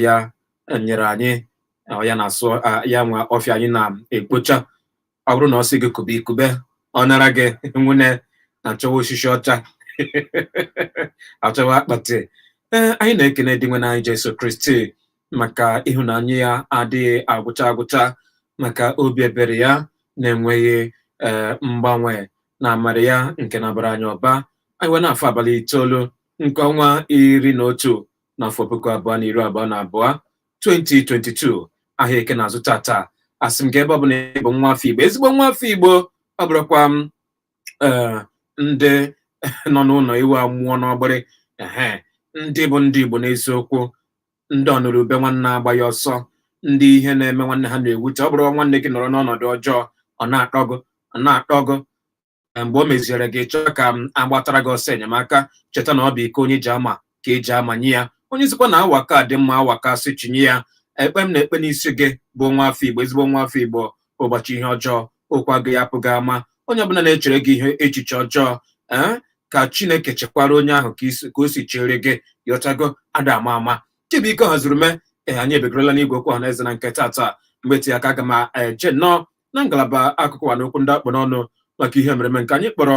ya nyere anyị ya na-asụ ya nwa ọfịa anyị na-ekpocha ọ bụrụ na ọ sị gị kube i kube ọ nara gị ume achọwa osisi ọcha achọwa akpati ee anyị na-ekene Dinwenụ anyị Jesu Kristi maka ịhụnanya ya adịghị agwụcha agwụcha maka obi ebere ya na-enweghị ee mgbanwe na amara ya nke na-abara anyị ụba anyị wee na-afụ abalị itoolu nke ọnwa iri na otu n'afọ puku abụọ na iri abụọ na abụọ 2022 ahịa eke na-azụ tata asị m ka ebe ọ bụ na ị bụ nwa afọ igbo ezigbo nwa afọ igbo ọ bụrụkwa m ee ndị nọ n'ụlọ ewu amụọ n'ọgbịrị ehe ndị bụ ndị igbo n'eziokwu ndị ọnụrụ ube nwanne agbaghị ọsọ ndị ihe na-eme nwanne ha na-ewute ọ bụrụ nwanne gị nọrọ n'ọnọdụ ọjọọ ọ na-atọ gị ọ na-atọ gị na mgbe o meziere gị chọọ ka a gbatara gị ọsọ enyemaka cheta na ọ bụ iko onye ji ama ka e ji amanye ya onye sịkwa na awa ka dị mma awa ka sị chinye ya ekpe m na-ekpe n'isi gị bụ nwa afọ igbo ezigbo nwa afọ igbo ụbọchị ihe ọjọọ ọkpa gị apụghị ama onye ọbụla na-echere gị ihe echiche ọjọọ ee ka chineke cheekwara onye ahụ ka isi- ka o si chere gị yọchago ada ama ama chibuike haziri mee ee anyị ebegorola n'igwe okwu ọha na eze na nke tata mgbe ti aka aga m eje nnọọ na ngalaba akụkọ ụwa na okwu ndị a kpụ n'ọnụ maka ihe mere eme nke anyị kpọrọ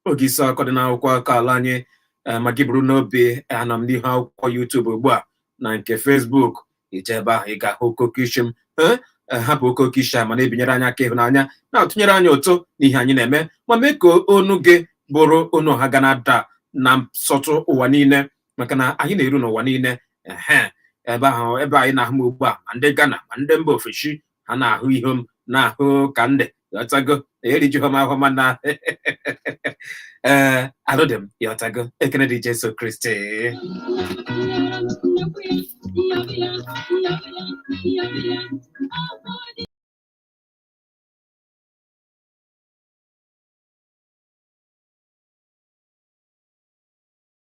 oge isi akụkọ dị n'akwụkwọ akụkọ ala anyị eh, ma gị buru n'obi anọ m n'ihu akwụkwọ YouTube ugbu a na nke Facebook i jee ebe ahụ ị ga-ahụ okoke isi m Eh, eh, hapụ okoke isi a ma na-ebinyere anyị aka ịhụnanya na-atụnyere anyị ụtụ n'ihe anyị na-eme ma mee ka onu gị bụrụ onu ọha ga na-ada na nsọtụ ụwa niile maka na anyị na-eru n'ụwa niile ehe ebe ahụ ebe anyị na-ahụ m ugbu a ma ndị Ghana ma ndị mba ofesi ha na-ahụ ihe m na-ahụ ka ndị yọtago erijughị m ahụ mana ee alụdị m yọtago ekene dị Jesu Kristi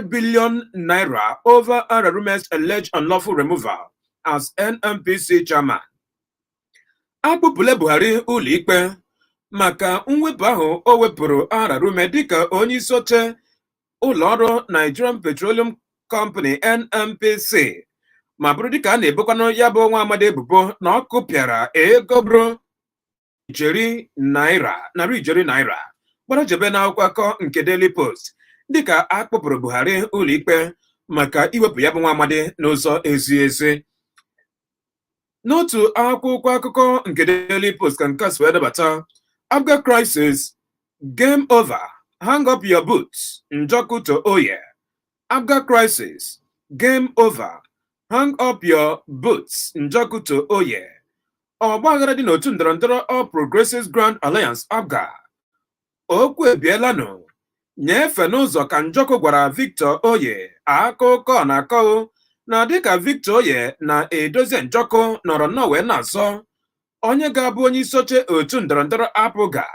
billion naira over Ararume's alleged unlawful removal as NNPC chairman. Akpụpụla Buhari ụlọikpe maka mwepụ ahụ o wepụrụ Ararume dịka onye isi oche ụlọ ọrụ Nigerian Petroleum Company NNPC ma bụrụ dịka a na-ebokwanụ ya bụ nwa amadi ebubo na ọ kụpịara ego bụrụ narị ijeri naira gbara jebe n'akwụkwọ akụkọ nke Daily Post dịka a kpụpụrụ Buhari ụlọikpe maka iwepụ ya bụ nwa amadi n'ụzọ ezighị ezi n'otu akwụkwọ akụkọ nke Daily Post ka nke a si wee debata APGA crisis game over hang up your boots Njọkụ to Oye APGA crisis game over hang up your boots Njọkụ to Oye ọgbaghara dị n'otu ndọrọndọrọ All Progressives Grand Alliance APGA okwu ebielanụ nye efe n'ụzọ ka Njọkụ gwara Victor Oye akụkọ na-akọ na dịka Victor Oye na Edozie Njọkụ nọrọ nnọọ wee na-azọ onye ga-abụ onye isi oche otu ndọrọndọrọ APGA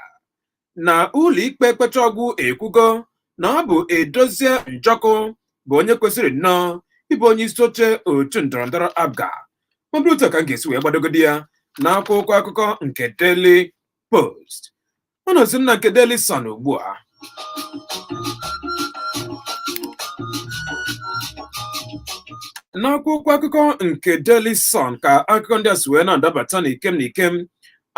na ụlọikpe kpecha ọgwụ ekwugo na ọ bụ Edozie Njọkụ bụ onye kwesịrị nnọọ ịbụ onye isi oche otu ndọrọndọrọ APGA ọ bụrụ otu ka m ga-esi wee gbadogodi ya n'akwụkwọ akụkọ nke Daily Post anọzi m na nke Daily Sun ugbu a n'akwụkwọ akụkọ nke Daily Sun ka akụkọ ndị a si wee na-adabata n'ikem n'ikem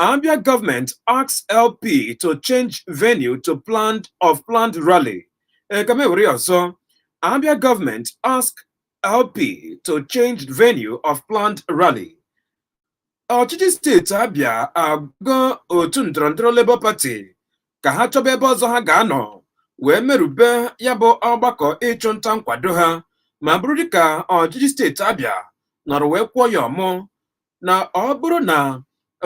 Abia government asks LP to change venue to pla of planned rally ka m ewere ya ọzọ Abia government asks LP to change venue of planned rally ọchịchị steeti Abịa agwago otu ndọrọndọrọ Labour Party ka ha chọba ebe ọzọ ha ga-anọ wee merube ya bụ ọgbakọ ịchụ nta nkwado ha ma bụrụ dịka ọchịchị steeti Abịa nọrọ wee kwụọ ya ọmụ na ọ bụrụ na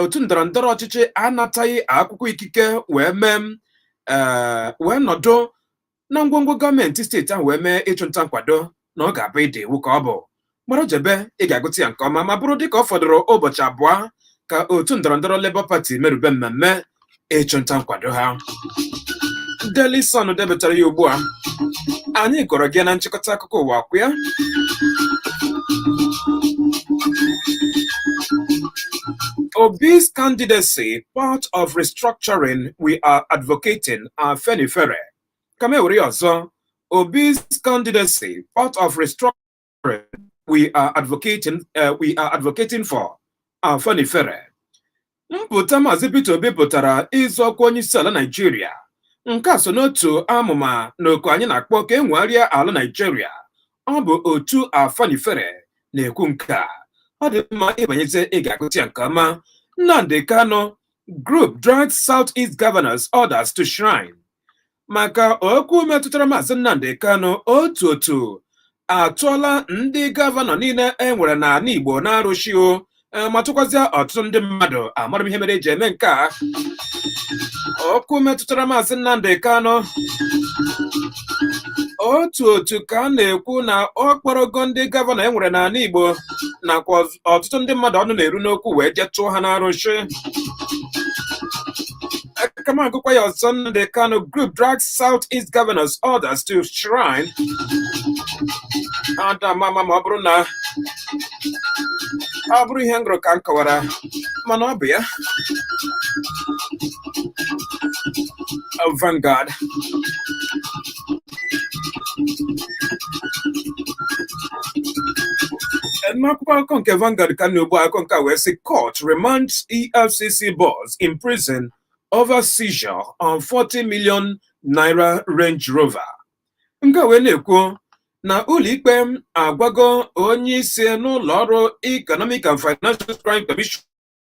otu ndọrọndọrọ ọchịchị anataghị akwụkwọ ikike wee mee ee wee nọdụ na ngwongwo gọọmenti steeti ahụ wee mee ịchụnta nkwado na ọ ga-abụ ịda iwu ka ọ bụ gbara jebe ị ga-agụta ya nke ọma ma bụrụ dịka ọ fọdụrụ ụbọchị abụọ ka otu ndọrọndọrọ Labour Party merube mmemme ịchụnta nkwado ha Daily Sun depụtara ya ugbu a anyị gụọrọ gị na nchịkọta akụkọ ụwa kwa ya Obi's candidacy, part of restructuring we are advocating, Afenifere ka m ewere ya ọzọ Obi's candidacy part of restructuring we are advocating for Afenifere mpụta Maazị Peter Obi pụtara ịzọ ọkwa onye isi ala Naijiria nke a so n'otu amụma na oku anyị na-akpọ ka e nwegharịa ala Naijiria ọ bụ otu Afenifere na-ekwu nke a ọ dị mma ị banyezi ị ga-agụta ya nke ọma Nnamdi Kanu Group drags Southeast Governors Others to Shrine maka okwu metụtara Maazị Nnamdi Kanu otu otu atụọla ndị gọvanọ niile e nwere n'ala Igbo n'arụsị o e, ma tụkwazịa ọtụtụ ndị mmadụ amarọ m ihe mere eji eme nke a okwu metụtara Maazị Nnamdi Kanu otu otu ka a na-ekwu na ọ kpọrọgo ndị gọvanọ e nwere n'ala Igbo nakwa ọtụtụ ndị mmadụ ọnụ na-eru n'okwu wee jee tụọ ha n'arụsị aga m agụkwa ya ọzọ Nnamdi Kanu group drags South East governors others to shrine ada m ama ma ọ bụrụ na ọ bụrụ ihe m gụrụ ka m kọwara mana ọ bụ ya Vanguard n'akwụkwọ akụkọ nke Vanguard ka m nọ ugbu a akụkọ nke a wee sị court remands EFCC boss in prison over seizure on 40 million naira Range Rover nke a wee na-ekwu na ụlọikpe agwago onye isi n'ụlọ ọrụ Economic and Financial Crime Commission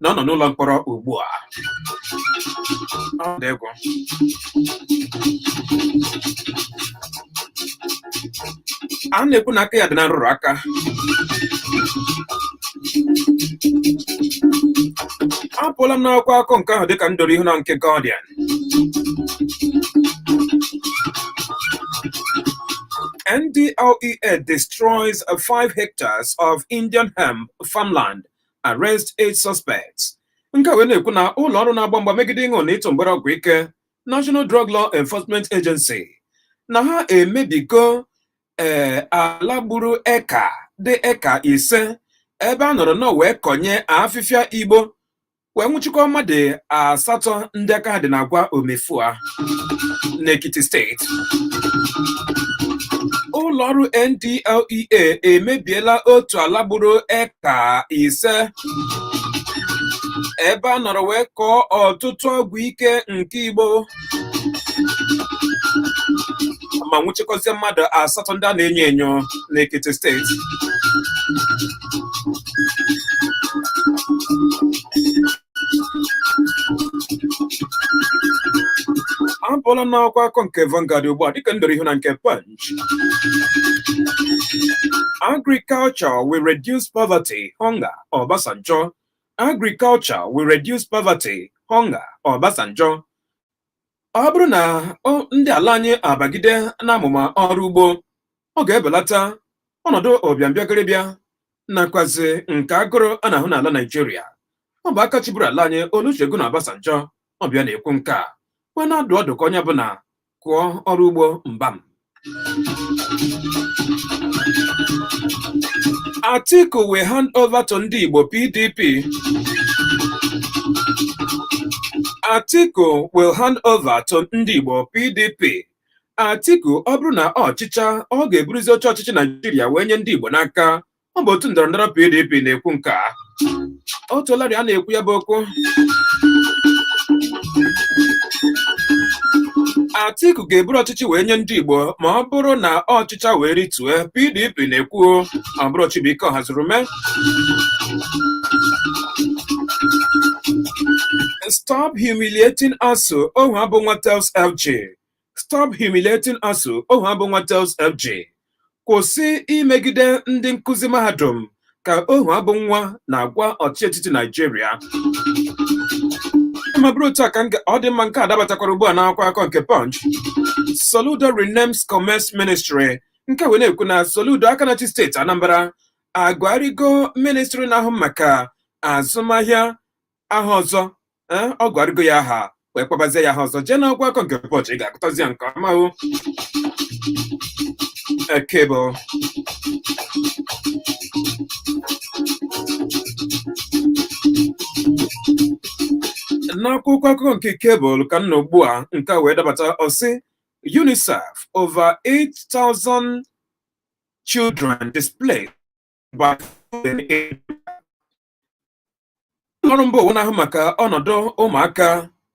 na ọ nọ n'ụlọ mkpọrọ ugbu a Ọ dị egwu. a na-ekwu na aka ya dị na nrụrụ aka apụọla m n'akwụkwọ akụkọ nke ahụ dịka m doro ihu na nke Guardian NDLEA destroys 5 hectares of Indian hemp farmland arrest eight suspects nke wee na-ekwu na ụlọ ọrụ na-agba mgba megide ịṅụ na ịtụ mgbere ọgwụ ike National Drug Law Enforcement Agency na ha emebigo ee eh, ala gburu eka dị eka ise ebe a nọrọ nọ wee kọnye afịfịa igbo wee nwụchikwa mmadụ asatọ ndị aka ha dị n'agwa omefua n'Ekiti steeti ụlọọrụ NDLEA emebiela otu ala gburu ka ise ebe a nọrọ wee kọọ ọtụtụ ọgwụ ike nke igbo ma nwụchikọzie mmadụ asatọ ndị a na-enyo enyo n'Ekiti steeti apụọla n'akwụkwọ akụkọ nke Vanguard ugbu a dịka m doro ihu na nke Punch Agriculture will reduce poverty, hunger, Obasanjo. Agriculture will reduce poverty, hunger, Obasanjo. Ọ bụrụ na ndị ala anyị abagide n'amụma ọrụ ugbo, ọ ga-ebelata ọnọdụ ụbịambịagịrịbịa nakwazi nke agụrụ a na-ahụ n'ala Naijiria. Ọ bụ aka chịburu ala anyị Olusegun Obasanjo ọ bụ ya na-ekwu nke a wee na-adụ ọdụ ka onye ọbụla kụọ ọrụ ugbo mbam Atiku will hand over to ndị Igbo PDP Atiku will hand over to ndị Igbo PDP Atiku ọ bụrụ na ọ chịchaa ọ ga-eburuzi oche ọchịchị Naijiria wee nye ndị Igbo n'aka ọ bụ otu ndọrọ ndọrọ PDP na-ekwu nke a o teelarị a na-ekwu ya bụ okwu Atiku ga-eburu ọchịchị wee nye ndị Igbo ma ọ bụrụ na ọ chịchaa wee ritue PDP na-ekwu ọ bụrụ Chibuike Ohazurume stop humiliating ASUU Ohuabunwa tells FG Stop humiliating ASUU Ohuabunwa tells FG kwụsị imegide ndị nkụzi mahadum ka Ohuabunwa na-agwa ọchịchị etiti Naijiria ma bụrụ otu a ka ọ dị mma nke a dabatakwara ugbu a n'akwụkwọ akụkọ nke Punch Soludo renames Commerce Ministry nke wee na-ekwu na Soludo aka na-achị steeti Anambra agụgharịgo ministri na-ahụ maka azụmahịa aha ọzọ ee ọ gụgharịgo ya aha wee kpabazie ya aha ọzọ jee n'akwụkwọ akụkọ nke Punch ị ga-agụtazi ya nke ọma o Cable n'akwụkwọ akụkọ nke Cable ka m nọ ugbu a nke a wee dabata ọ sị UNICEF over 8,000 children displaced by flooding in ọrụ mba ụwa na-ahụ maka ọnọdụ ụmụaka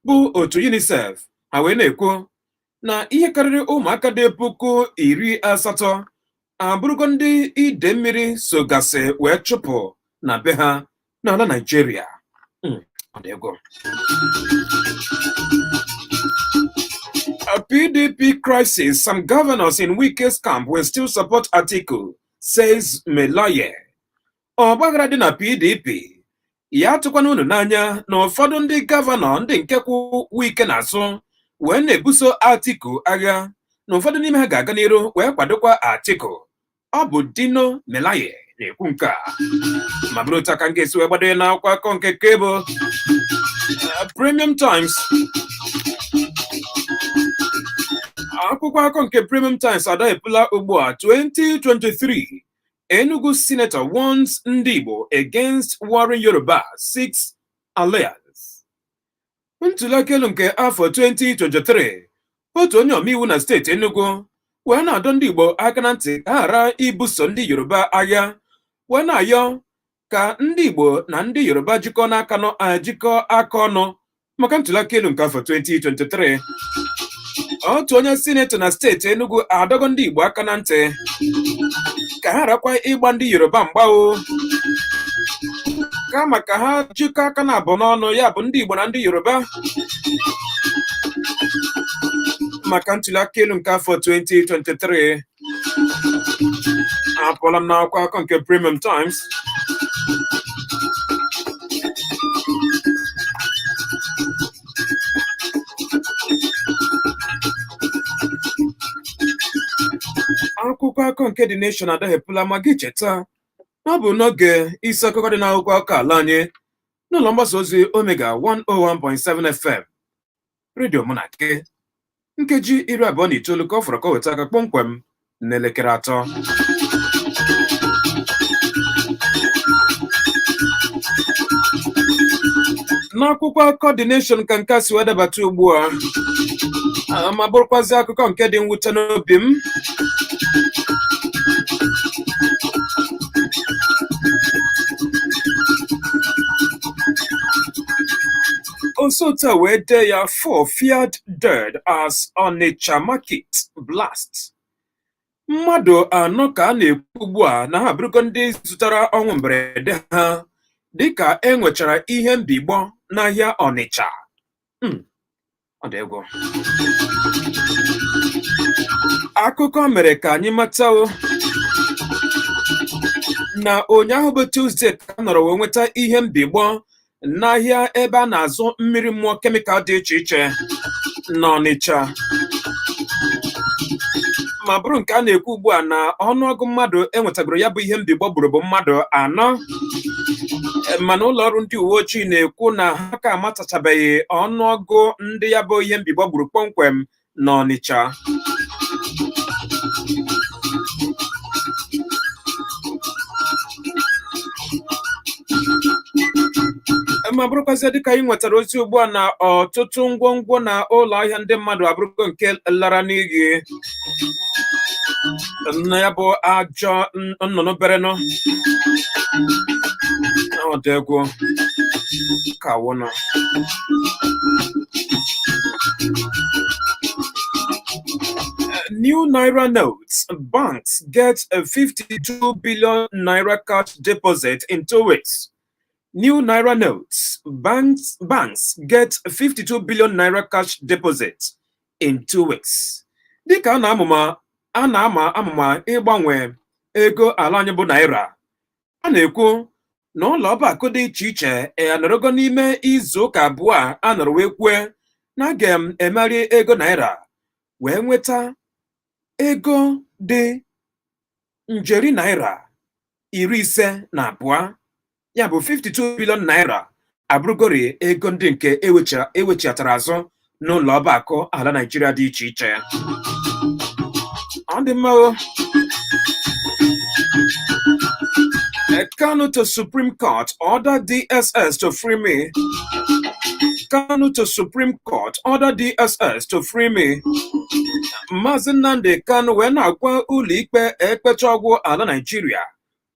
bụ otu UNICEF ha wee na-ekwu na ihe karịrị ụmụaka dị puku iri asatọ abụrụgo ndị ide mmiri sogasị wee chụpụ na be ha n'ala Naịjirịa hmm, A PDP crisis, some governors in Wike's camp will still support Atiku, says Melaye. ọgbaghara dị na PDP ya atụkwana unu n'anya na ụfọdụ ndị gọvanọ ndị nke kwụ Wike n'azụ wee na-ebuso Atiku agha na ụfọdụ n'ime ha ga-aga n'iru wee kwadokwa Atiku ọ bụ Dino Melaye na-ekwu nke a ma bụrụ otu aka m ga-esi wee gbado ya n'akwụkwọ akụkọ nke Cable Premium Times akwụkwọ akụkọ nke Premium Times adaghepụla ugbu a 2023 Enugu senator warns ndị Igbo against warring Yoruba seeks alliance. Ntụliaka elu nke afọ 2023 otu onye omeiwu na steeti Enugu wee na-adọ ndị Igbo aka na ntị ka ha ghara ibuso ndị Yoruba agha wee na-ayọ ka ndị Igbo na ndị Yoruba jikọọ n'aka jikọọ aka ọnụ maka ntụliaka elu nke afọ 2023 otu onye sinetọ na steeti Enugu adọgo ndị Igbo aka na ntị ka ha gharakwa ịgba ndị Yoruba mgba o kama ka ha jikọọ aka n'abụọ n'ọnụ ya bụ ndị Igbo na ndị Yoruba maka ntụliaka elu nke afọ 2023 apụọla m n'akwụkwọ akụkọ nke Premium Times akwụkwọ akụkọ nke The Nation adaghepụla ma gị cheta na ọ bụ n'oge isi akụkọ dị n'akwụkwọ akụkọ ala anyị n'ụlọ mgbasa ozi Omega 101.7 FM redio mụ na gị nkeji iri abụọ na itoolu ka ọ fọrọ ka o weta aka kpọmkwem n'elekere atọ n'akwụkwọ akụkọ The Nation ka nke a si wee dabata ugbu a Ah, ma bụrụkwazị akụkọ nke dị mwute n'obi m O si otu a wee dee ya four feared dead as Onitsha market blast. Mmadụ anọ ka a na-ekwu ugbu a na ha abụrụgo ndị zụtara ọnwụ mberede ha dịka e nwechara ihe mbigbọ n'ahịa Onitsha. Hmm, ọ dị egwu. Akụkọ mere ka anyị mata na ụnyaahụ bụ Tuzdee ka a nọrọ wee nweta ihe mbigbọ n'ahịa ebe a na-azụ mmiri mmụọ kemịkal dị iche iche n'Ọnịcha ma bụrụ nke a na-ekwu ugbu a na ọnụọgụ mmadụ e nwetagoro ya bụ ihe mbigbọ gburu bụ mmadụ anọ mana ụlọ ọrụ ndị uwe ojii na-ekwu na ha ka amatachabeghị ọnụọgụ ndị ya bụ ihe mbigbọ gburu kpọmkwem n'Ọnịcha ma bụrụkwazị dịka anyị nwetara ozi ugbu a na ọtụtụ ngwongwo na ụlọ ahịa ndị mmadụ abụrụgo nke lara n'iyi na ya bụ ajọ nnụnụ berenụ ọ dị egwu kwanụ new naira notes, banks get a 52 billion naira cash deposit in two weeks. New naira notes, banks get 52 billion naira cash deposit in two weeks dịka a na-amụma a na-ama amụma ịgbanwe ego ala anyị bụ naira a na-ekwu na ụlọ ọba akụ dị iche iche anọrọgo n'ime izu ụka abụọ a a nọrọ wee kwue na a ga-emegharị ego naira wee nweta ego dị njeri naira iri ise na abụọ ya bụ 52 billion naira abụrụgori ego ndị nke e wechighatara azụ n'ụlọ ọba akụ ala Naịjirịa dị iche iche ọ dị mma Kanu to Supreme Court order DSS to free me Kanu to Supreme Court order DSS to free me Maazị Nnamdi Kanu wee na-agwa ụlọikpe ekpechaa ọ gwụ ala Naịjirịa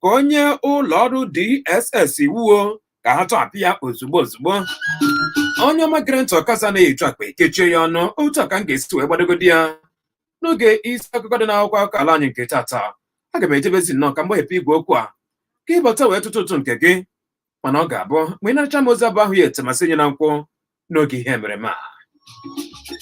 ka o nye ụlọ ọrụ DSS iwu ka ha tọhapụ ya ozugbo ozugbo onye ọma gere ntị ọkasa anaghị eju akpa e kechie ya ọnụ otu a ka m ga-esi wee gbadogodi ya n'oge isi akụkọ dị n'akwụkwọ akụkọ ala anyị nke tata aga m ejebezi nnọọ ka m gbaghepụ igwe okwu a ka ị bata wee tụtụ ụtụ nke gị mana ọ ga-abụ mgbe ị nachaa m ozi abụ ahịa ete masị nye na nkwụ n'oge ihe emereme a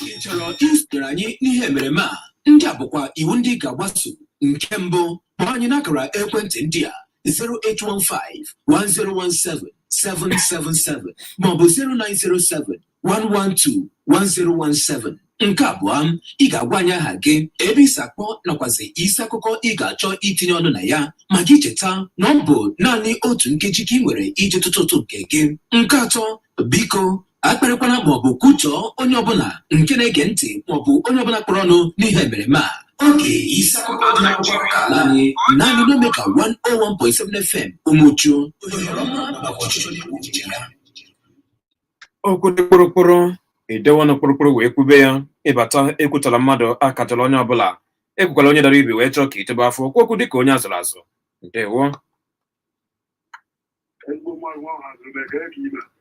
ị chọrọ isonyere anyị n'ihe emereme a ndị a bụkwa iwu ndị ị ga-agbaso nke mbụ kpọọ anyị n'akara ekwentị ndị a 0815 1017 777 maọbụ 0907 112-1017 nke abụọ ị ga-agwa anyị aha gị ebe i si akpọ nakwazi isi akụkọ ị ga-achọ itinye ọnụ na ya ma gị cheta na ọ bụ naanị otu nkeji ka ị nwere iji tụtụ ụtụ nke gị nke atọ biko akparịkwana maọbụ kwutọọ onye ọbụla nke na-ege ntị maọbụ onye ọbụla kpọrọ ọnụ n'ihe emereme a oge isi akụkọ dị n'akwụkwọ akụkọ ala anyị naanị n'Omega 101.7 FM Umuchu ohere ọma maka ọchịchọ na-ekwu uche ya okwu dị kpụrụkpụrụ e dewe ọnụ kpụrụkpụrụ wee kwube ya ị bata ekwutọla mmadụ akatọla onye ọbụla ekwukwala onye dara ibi wee chọọ ka i tobe afọ kwuo okwu dịka onye a zụrụ azụ ndewo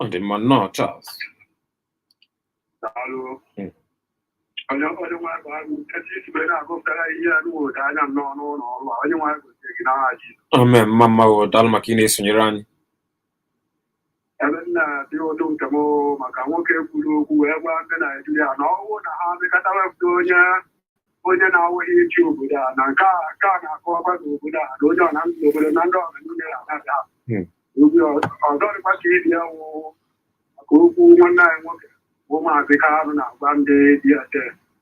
ọ dị mma nnọọ Charles onye onye nwe bụ agụ etu i si wee na-agụpụtara ihe ya n'ụda anya m n'ọnụ ụlọ ọrụ a onye nwe anyị gozie gị n'aha Jizọs amen mma mma o daalụ maka ị na-esonyere anyị ebe m na-adị ụtọ nke m maka nwoke kwuru okwu wee gwa ndị Naijiria na ọ wụ na ha mekọta wepụta onye onye na-awụghị iji obodo a na nke a nke a na-akọwakwa na obodo a na onye ọ na ndụ obodo na ndị ọha niile na-abata obi ọzọ dịkwa ka ibi ya wụ maka okwu nwanne anyị nwoke bụ maazị Kanụ na-agwa ndị DSS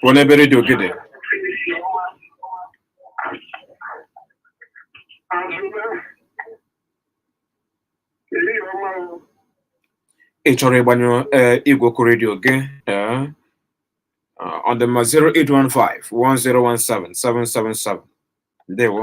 Pụọ n'ebe redio gị dị. Ị chọrọ ịgbanyụ ee igwe okwu redio gị ee ọ dị mma 08151017777 ndewo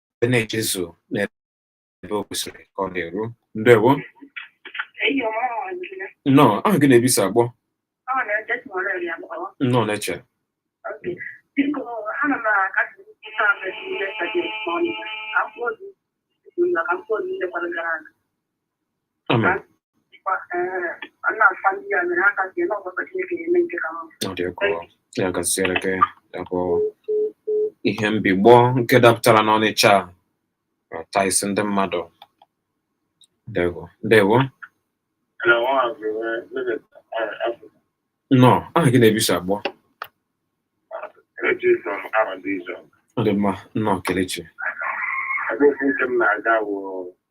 wee na-ejezu n'ebe o kwesịrị ka ọ na-eru ndewo nnọọ aha gị na ebe i si akpọ nnọọ Neche Amen. ya gaziere gị ya bụ ihe mbigbọ nke dapụtara n'Ọnịcha taa isi ndị mmadụ ndewo ndewo nnọọ aha gị na ebe i si akpọ ọ dị mma nnọọ Kelechi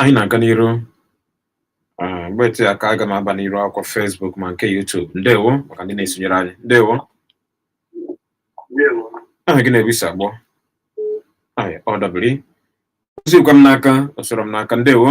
anyị na-aga n'iru Ah, mgbe eteghị aka aga m aba n'iru akwụkwọ Facebook ma nke YouTube ndewo maka ndị na-esonyere anyị ndewo aha gị na ebe i si akpọ Ai, ọ dabiri ozikwa m n'aka ọ sọrọ m n'aka ndewo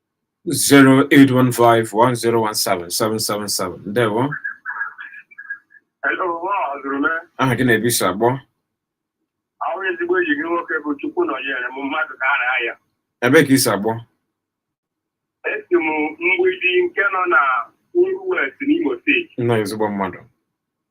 08151017777 ndewo aha gị na ebe i si akpọ awụ m ezigbo enyi gị nwoke bụ Chukwunọnyerem mmadụ ka a na ya ebe ka i si akpọ esi m Mgbidi nke nọ na Oru West n'Imo steeti nnọọ ezigbo mmadụ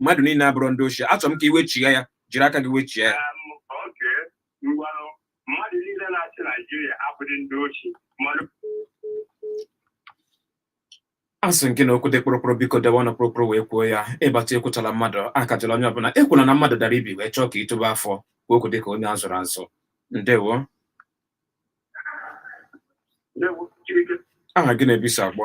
mmadụ niile abụrụ ndị oshi achọrọ m ka iwechigha ya jiri aka gị wechie ya mmadụ niile na-achị naijiria abụghị ndị oshi asị nke na okwu dị kpụrụkpụrụ biko debe ọnụ kpụrụkpụrụ wee kwuo ya ịbata ekwuchala mmadụ akajala onye ọbụla ekwula na mmadụ dara ibi wee chọọ ka itobe afọ kwuo okwu dịka onye azụrụ azụ ndewo aha gị na ebe i si akpọ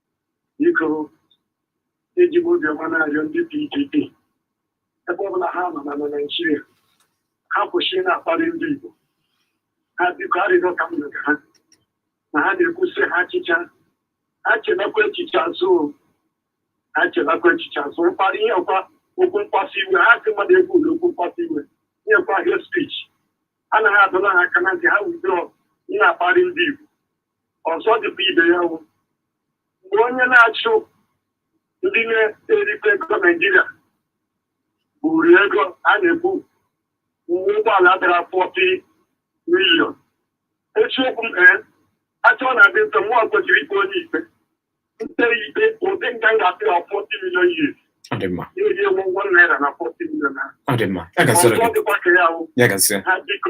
biko eji m obiọma na-arịọ ndị PDP ebe ọbụla ha nọ na na Naịjirịa ha kwụsị na-akparị ndị Igbo ha biko arịrịọ ka m rịọrọ ha na ha na-ekwusị ha achịcha ha chelakwa echiche azụ o. ha chelakwa echiche azụ mkparị ihe ọkwa okwu mkpasu iwe ha sị mmadụ ekwula okwu mkpasu iwe nyekwa hate speech anaghị adọla ha aka na ntị ha wudro na-akparị ndị Igbo ọzọ dịkwa ibe ya wụ mgbe onye na-achụ ndị na-erite ego naijiria buru ego a na-ekwu uwe ụgbọala dara 40 million eziokwu m ee achọ na adị nso mụọ kwesịrị ikpe onye ikpe nte ikpe ụdị nke m ga-apị ya 40 million years Ọ dị mma. na-eri ewu ụgwọ naira na 40 million ahụ. Ọ dị mma. Ya gaziere Ọzọ gị. dịkwa ka ya wụ Ya gaziere. ha biko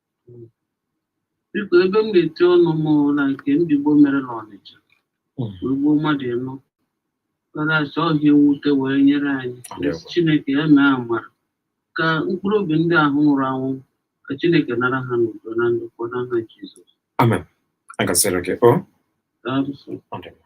biko ebe m na-eti ọnụ m na nke ndị Igbo mere na Ọnịcha Mm. wee gbuo mmadụ ịnọ ka na-asị ọ ihe mwute wee nyere anyị Ndewo. Chineke ya mee amara ka mkpụrụ obi ndị ahụ nwụrụ anwụ ka Chineke nara ha n'udo na ndokwa n'aha Jizọs amen ya gaziere gị o Daalụ sọ. Ọ dị mma.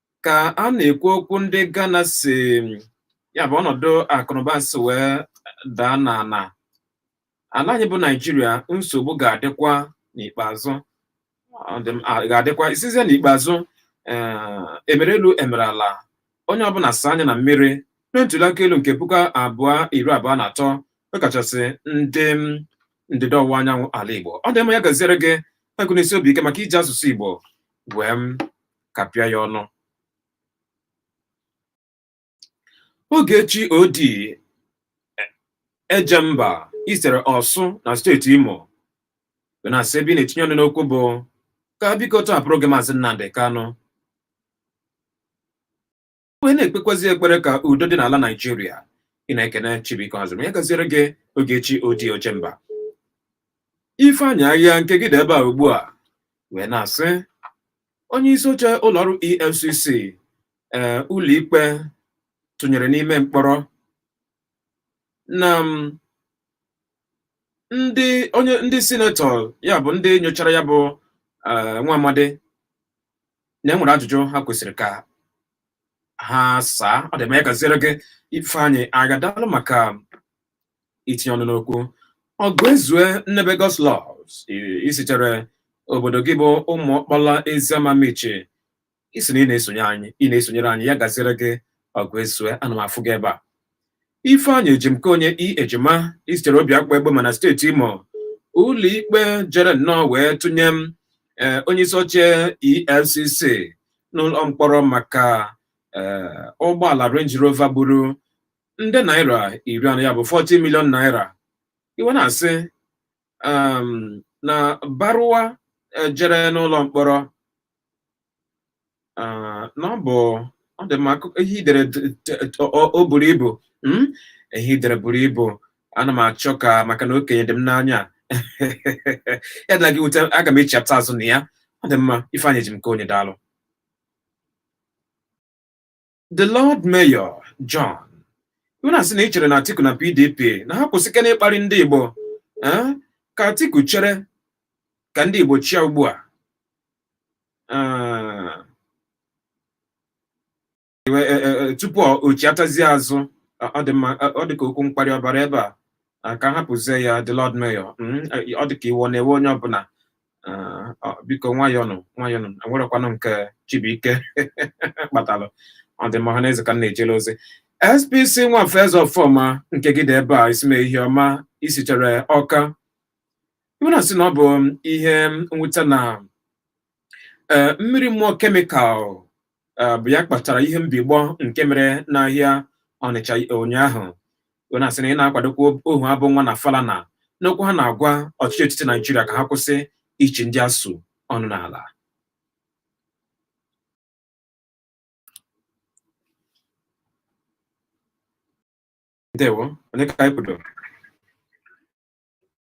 ka a na-ekwu okwu ndị Ghana si ya bụ ọnọdụ akụnụba si wee daa n'ala ala anyị bụ Naijiria nsogbu ga-adịkwa n'ikpeazụ ọ dị m- a- ga-adịkwa isizie n'ikpeazụ ee, emere elu emere ala onye ọbụla saa anya na mmiri na ntuli aka elu nke puku abụọ iri abụọ na atọ ọkachasị ndị m, ndịda ọwụwa anyanwụ ala Igbo ọ dị mma ya gaziere gị agụ n'isi obi ike maka iji asụsụ Igbo wee m kapịa ya ọnụ Ogechi Odi Ojemba isere Ọsụ na steeti Imo na-asị ebe ị na-etinye ọnụ n'okwu bụ ka biko tọhapụrụ gị maazị Nnamdi Kanu wee na-ekpekwazi ekpere ka udo dị n'ala Naijiria ị na-ekene Chibuike Hazim ya gaziere gị Ogechi Odi Ojemba Ifeanyị Ahịa nke gị dị ebe a ugbu a wee na-asị onye isi oche ụlọọrụ EFCC ee ụlọikpe tụnyere n'ime mkpọrọ na m, ndị onye ndị sinetọ ya bụ ndị nyochara ya bụ eh, nwa amadi na enwere ajụjụ ha kwesịrị ka ha saa ọ dị mma ya gaziere gị ifeanyị agha daalụ maka itinye ọnụ n'okwu ọgụ ezue nnebe God'slove i sitere obodo gị bụ ụmụ ọkpala eziama Amichi ị sị na ị na-esonye anyị ị na-esonyere anyị ya gaziere gị ọgụ ezue ana m afụ gị ebe a Ifeanyị Ejimkonye I Ejima i sitere Obiakpu Egbema na steeti Imo ụlọikpe jere nnọọ wee tụnye m eh, onye isi oche EFCC n'ụlọ mkpọrọ maka eh, ụgbọala Range Rover gburu nde naira iri anọ ya bụ 40 million naira i wee na-asị um, na Baruwa eh, jere n'ụlọ mkpọrọ Ah, na ọ bụ ọ dị mma akụ- ihe i dere d- t- t- ọ ọ buru ibu mm? ihe i dere buru ibu ana m achọ ka maka na okenye dị m n'anya ya adịna gị mwute aga m echiapụta azụ na ya ọ dị mma Ifeanyị Ejimkonye daalụ The Lord Mayor John i wee na-asị na i chere na Atiku na PDP na ha kwụsịkene ịkparị ndị Igbo eh? ka Atiku chere ka ndị Igbo chịa ugbu a eh, eh, tupu o chiatazie azụ ọ dị mma ọ dị ka okwu mkparị ọ bara ebe a ka hapụzie ya the Lord Mayor hmm, ọ dị ka iwu na-ewe onye ọbụla Ah, ah, biko nwayọnụ nwayọnụ enwerekwanụ nke Chibuike kpatalụ ọdịmma ọha na eze ka m na-ejele ozi SPC Nwafọ eze ọfọma nke gị dị ebe a isi mee ihe ọma i sitere Ọka i wee na-asị na ọ bụ ihe mwute na eh, mmiri mmụọ kemikal eh, bụ ya kpatara ihe mbigbọ nke mere n'ahịa Ọnịcha ụnyaahụ i wee na-asị na ị na-akwadokwa Ohuabunwa na Falana n'okwu ha na-agwa ọchịchị etiti Naijiria ka ha kwụsị ichi ndị ASUU ọnụ n'ala ndewo onye ka anyị kwudo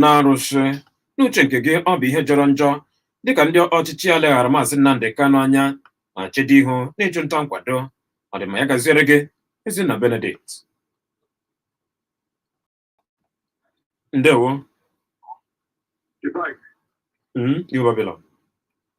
na-arụsị n'uche nke gị ọ bụ ihe jọrọ njọ dịka ndị ọchịchị ya leghara maazị Nnamdị Kanụ anya ma chedo ihu n'ịchụ nta nkwado ọdịmma ya gaziere gị Ezinna Benedict ndewo Goodbye. Mm, New Babylon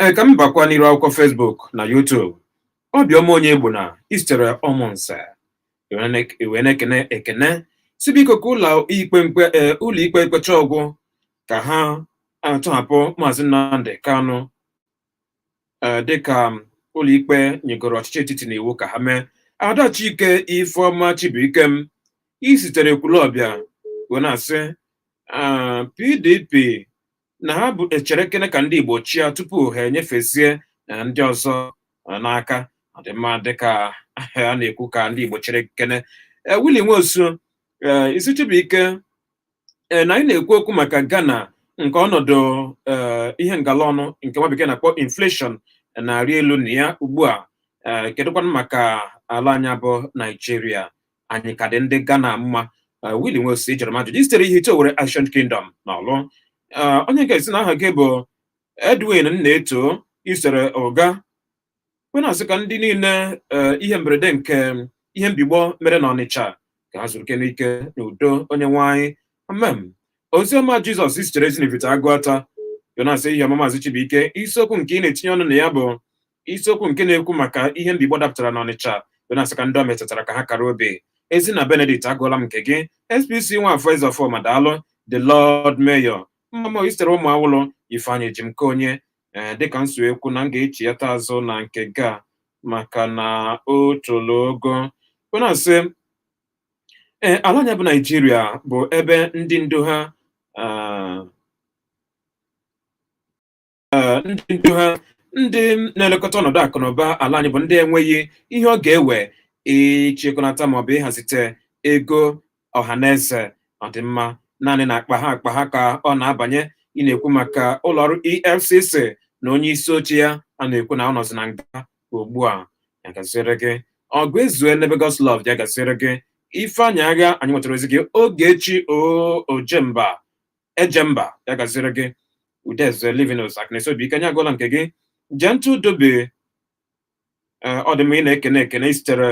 ee ka m bakwa n'iru akwụkwọ Facebook na YouTube obiọma Onyegbuna i sitere Ụmụnze i wee na-ekene ekene sị biko ka ụlọ ikpe mkpe ee ụlọ ikpe mkpecha ọgwụ ka ha atọhapụ maazị Nnamdi Kanu ee dịka ụlọ ikpe nyegoro ọchịchị etiti n'iwu ka ha mee Ada Chike Ifeọma Chibuikem i sitere Ekwulọbịa wee na-asị PDP na ha bụ echerekene ka ndị Igbo chịa tupu ha enyefezie na eh, ndị ọzọ eh, n'aka ọ dị mma dịka eh, a na-ekwu ka ndị Igbo cherekene Willie Nwosu ị sị Chibuike na anyị na-ekwu okwu maka Ghana nke ọnọdụ ihe ngala ọnụ nke nwa bekee na-akpọ inflation na-arị elu na ya ugbu a kedụkwanụ maka ala anyị a bụ Naijiria anyị ka dị ndị Ghana mma Willie Nwosu jụrụ m ajụjụ i sitere Ihite Owere Ancient Kingdom na Ọlụ onye nke sị na aha gị bụ Edwin Nnaeto i sitere Ụga wee na-asị ka ndị niile ihe mberede nke ihe mbigbọ mere na Ọnịcha ka ha zuru ike n'ike na udo Onyenweanyị amem Oziọma Jizọs sitere Ezinifite Agụata wee na-asị ehihie ọma maazị Chibuike isiokwu nke ị na-etinye ọnụ na ya bụ isiokwu nke na-ekwu maka ihe mbigbọ dapụtara n'Ọnịcha wee na-asị ka ndị ọ metụtara ka ha kara obi Ezinna Benedict agụọla m nke gị SPC Nwafọ Ezeọfọma daalụ the Lord Mayor Mmamo i sitere Ụmụawụlụ Ifeanyị Ejimkeonye ee dịka m si wee kwu na m ga-echighata azụ na nke gị maka na o tolo ogo wee na-asị ee ala anyị a bụ Naijiria bụ ebe ndị ndu ha ah, eh, ndị ndu ha ndị na-elekọta ọnọdụ akụ na ụba ala anyị bụ ndị enweghị ihe ọ ga-ewe ịchịkọnata maọbụ ịhazite ego ọha na eze ọdịmma naanị na akpa ha akpa ha ka ọ na-abanye ị na-ekwu maka ụlọọrụ EFCC na onye isi oche ya a na-ekwu na ọ nọzi na nga ugbu a ya gaziri gị Ọgụezue Nebe Godslove ya gaziri gị Ifeanyị Agha anyị nwetara ozi gị Ogechi Ojemba Ejemba ya gaziri gị Udeze Livinus Akịnesi Obiike anyị agụọla nke gị Gentle Dobe eh, ọ dị mma ị na-ekene ekene i sitere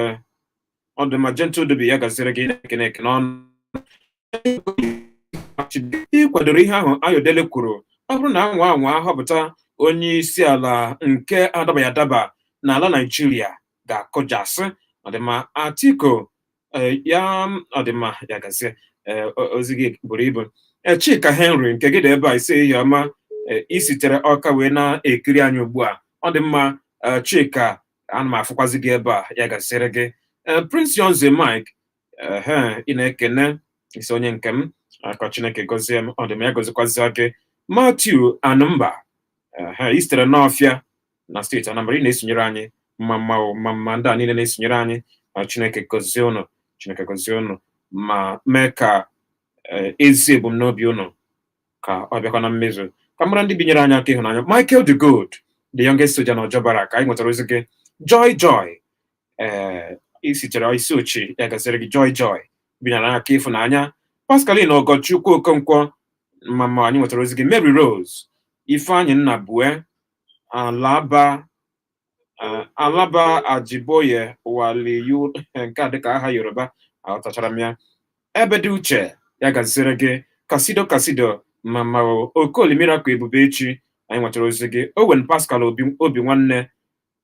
ọ dị mma Gentle Dobe ya gaziri gị ị na-ekene ekene ọnụ ị kwadoro ihe ahụ Ayodele kwuru ọ bụrụ na a nwaa anwa họpụta onye isi ala nke adabaghị adaba na ala Naijiria ga-akụjasị ọ dị mma Atiku Eh, ya ọ dị mma ya gazie eh, ozi gị buru ibu eh, Chika Henry nke gị dị ebe a ị sị ehihie ọma i sitere Ọka wee na-ekiri anyị ugbu a ọ dị mma Chika ana m afụkwazi gị ebe a ya gaziri gị Prince Yonze Mike ị na-ekene ị sị onye nke m ka Chineke gọzie m ọ dị mma ya gọzikwazia gị Matthew Anumba i sitere n'Ọfịa na steeti Anambra ị na-esonyere anyị mma mma o mma mma ndị a niile na-esonyere anyị na Chineke gọzie ụnụ Chineke gọzie ụnụ ma mee ka eh, ezi ebumnobi ụnụ ka ọ bịakwa na mmezu ka m mara ndị binyere anyị aka ịhụnanya Michael de Good the youngest soldier na Ojo Barrack anyị nwetara ozi gị Joy Joy ee isitere isi ochi ya gaziri gị Joy Joy binyere anyị aka ịfụnanya Pascaline Ogochukwu Okonkwo mama anyị nwetara ozi gị Mary Rose Ifeanyị Nnabue Alaba eh, Alaba Ajiboye Waliyu nke a dịka aha Yoruba aghọtachara m ya Ebere Uche ya gaziere gị kasido kasido mama o- okoli miracle ebubechi anyị nwetara ozi gị owen pascal obi obi nwanne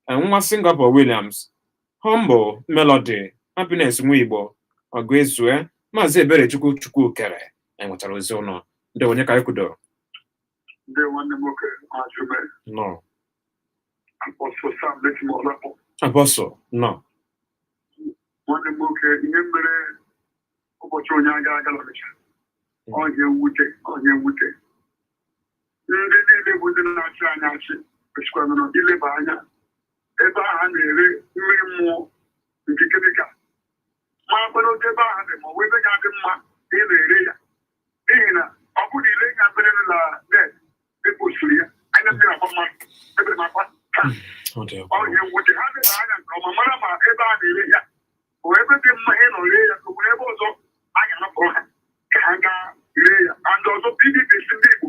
eh, nwa singapore williams humble melody happiness nwa igbo ọgụ ezue maazị eberechukwu chukwukere anyị nwetara ozi ụnụ ndị onye ka anyị kwudo ndị nwanne m nwoke Ajume nnọọ Apọstụ Sam Lekimo Olakpọ Apọstụ nnọọ nwanne m nwoke ihe mere ụbọchị ụnyaa ga aga l'Ọnịcha ọ ihe mwute ọ ihe mwute ndị niile bụ ndị na-achị anyị achị kwesịkwara nụ ileba anya ebe ahụ a na-ere mmiri mmụọ nke kemikal makwara otu ebe ahụ dị ma ọ bụ ebe ga-adị mma ị na-ere ya n'ihi na ọ bụ na i lee ihe a mere na net e postiri ya anya mmiri agba mmadụ ebere m akwa taa Ọ dị egwu. ọ ihe mwute ha leba anya nke ọma mara ma ebe a na-ere ya bụ ebe dị mma ịnọ ree ya ka o nwere ebe ọzọ a ga-anapụrụ ha ka ha gaa ree ya and ọzọ pdp sị ndị igbo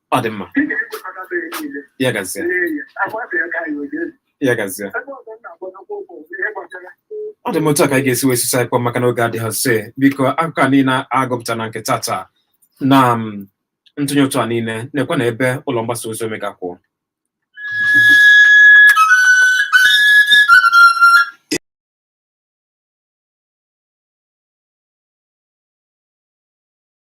ọ dị mma ya gazie ya gazie ọ dị mma otu a ka anyị ga-esi wee sisa ịkpọ maka na oge adịghịzi biko akụkọ a niile agụpụta na nke tata na mm, ntụnye ụtụ a niile na-ekwe na ebe ụlọ mgbasa ozi omega kwụ